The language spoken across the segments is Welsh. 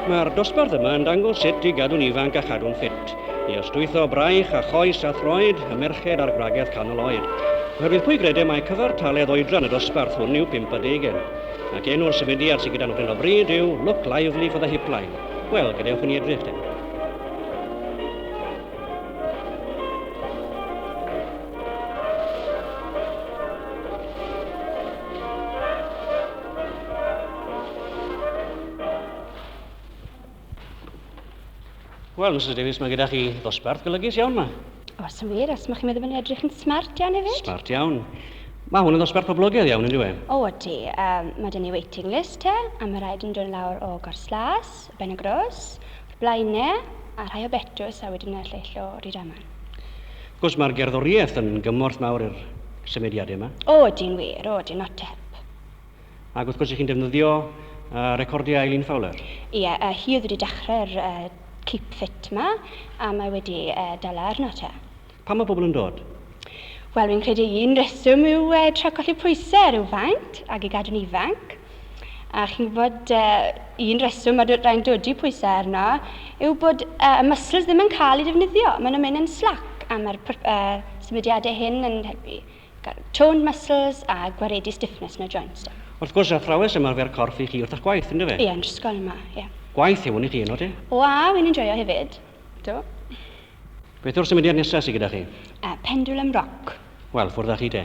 Mae'r dosbarth yma yn dangos sut i gadw'n ifanc a chadw'n ffit, i ystwytho braich a choes a throed y merched a'r gwragedd canol oed. Oherwydd pwy gredau mae cyfartaledd oedran y dosbarth hwn yw 50 ac enw'r symudiad sydd gyda nhw hyn o bryd yw Look Lively for the Hipline. Wel, gadewch i ni edrych te. Wel, Mrs Davies, mae gyda chi ddosbarth golygus iawn yma. Os yn wir, os mae chi'n meddwl bod ni'n edrych yn smart iawn hefyd. Smart iawn. Mae hwn yn ddosbarth poblogaidd iawn, yn dweud? O, ydy. Um, mae dyn ni waiting list te, a mae rhaid yn dod lawr o Gorslas, Y Benygros, o'r blaen 'ne, a rhai o Betws a wedyn y lleill o Rydaman. Wrth gwrs, mae'r gerddoriaeth yn gymorth mawr i'r symudiadau yma. O, ydy'n wir, o, ydyn, not tep. Ac wrth gwrs, ych chi'n defnyddio uh, recordiau Eileen Fowler. Ie, yeah, uh, hi oedd wedi dechrau'r uh, Keep Fit ma, a mae wedi uh, dala arno te. Pam mae pobl yn dod? Wel, fi'n credu un reswm yw uh, tra colli pwysau ar yw faint ac i gadw'n ifanc. A chi'n gwybod, uh, un reswm mae rhain dodi pwysau arno yw bod uh, y muscles ddim yn cael ei defnyddio. Maen nhw'n mynd yn slac a mae'r uh, symudiadau hyn yn helpu toned muscles a gwaredu stiffness yn y joints. Da. Wrth gwrs, athrawes ymarfer corff i chi wrth eich gwaith, ynddo fe? Ie, yn ysgol yma, ie. Gwaith yw hwn i chi, yno di? O, a, wy'n enjoyo hefyd. Do. Beth yw'r symudiad nesaf sydd gyda chi? Uh, pendulum rock. Wel, ffwrdd â chi te.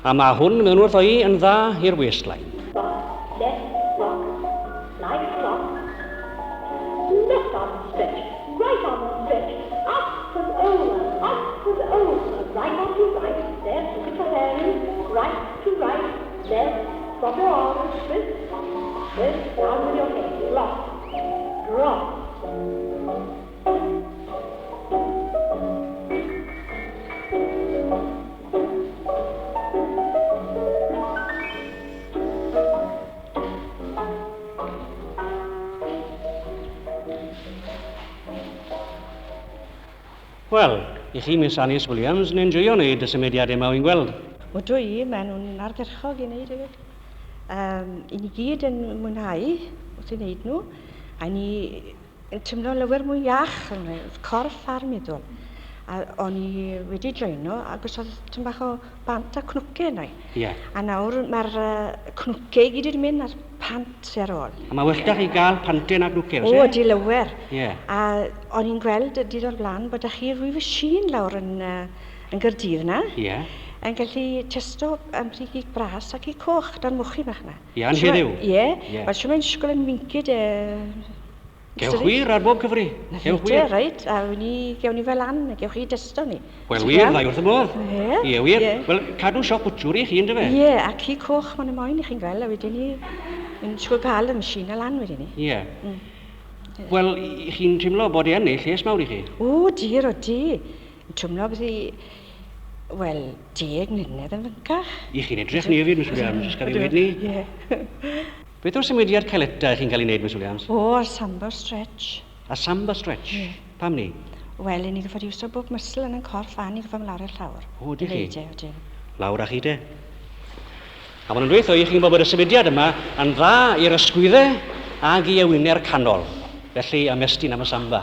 A mae hwn mewn wrth o'i yn dda i'r waistline. Wel, i chi Miss Anis Williams, yn enjoyo wneud y symudiad yma wy'n gweld. O dwi, maen nhw'n ardderchog i wneud hefyd. Um, I ni gyd yn mwynhau wrth i wneud nhw, a ni yn tymlo lawer mwy iach, oedd corff ar meddwl. A o'n i wedi draeno ac os oedd tyn bach o bant a cnwce yna i. Yeah. A nawr mae'r uh, cnwce i gyd wedi mynd a'r pant sy'n ar ôl. A mae well da chi gael pantau na cnwce, oes e? O, di lawer. Yeah. A o'n i'n gweld y dydd o'r blaen bod da chi rwyf y sin lawr yn, uh, yn gyrdydd na. Yeah. Yn gallu testo am rhi gig bras ac i coch dan mwchi bach na. Iawn heddiw. Ie. Yeah. Wel, siwma'n sgol yn wincyd e... Gewch wir ar bob cyfri. Gewch wir. Ie, reit. A wn i, gewn ni fel an, gewch chi dysto ni. Wel, wir, ddau wrth y modd. Ie. Ie, wir. Ie. Wel, cadw siop bwtwr i chi, yn dyfe? Ie, a ci coch ma'n y moyn i chi'n gweld, a wedyn ni, yn siŵr cael y machine a lan wedyn ni. Ie. Mm. Wel, i chi'n teimlo bod e yn ei lles mawr i chi? O, dir o di. Yn twmlo beth i... wel, deg mlynedd yn fyncach. I chi'n edrych ni hefyd, Miss Williams, os gael ei weud ni. Ie. Beth yw'r symudiad caeleta i chi'n cael ei wneud, Miss Williams? O, y Samba Stretch. Y Samba Stretch? Ie. Pam ni? Wel, i ni gyffod iwso bob muscle yn yn corff a ni gyffod mlawr i'r llawr. O, ydych chi? I wneud e, odyn. Lawr â chi te. A mae'n dweud wrtho i chi'n gwybod bod y symudiad yma yn dda i'r ysgwyddau ag i ewinau'r canol. Felly, ymestyn am y samba.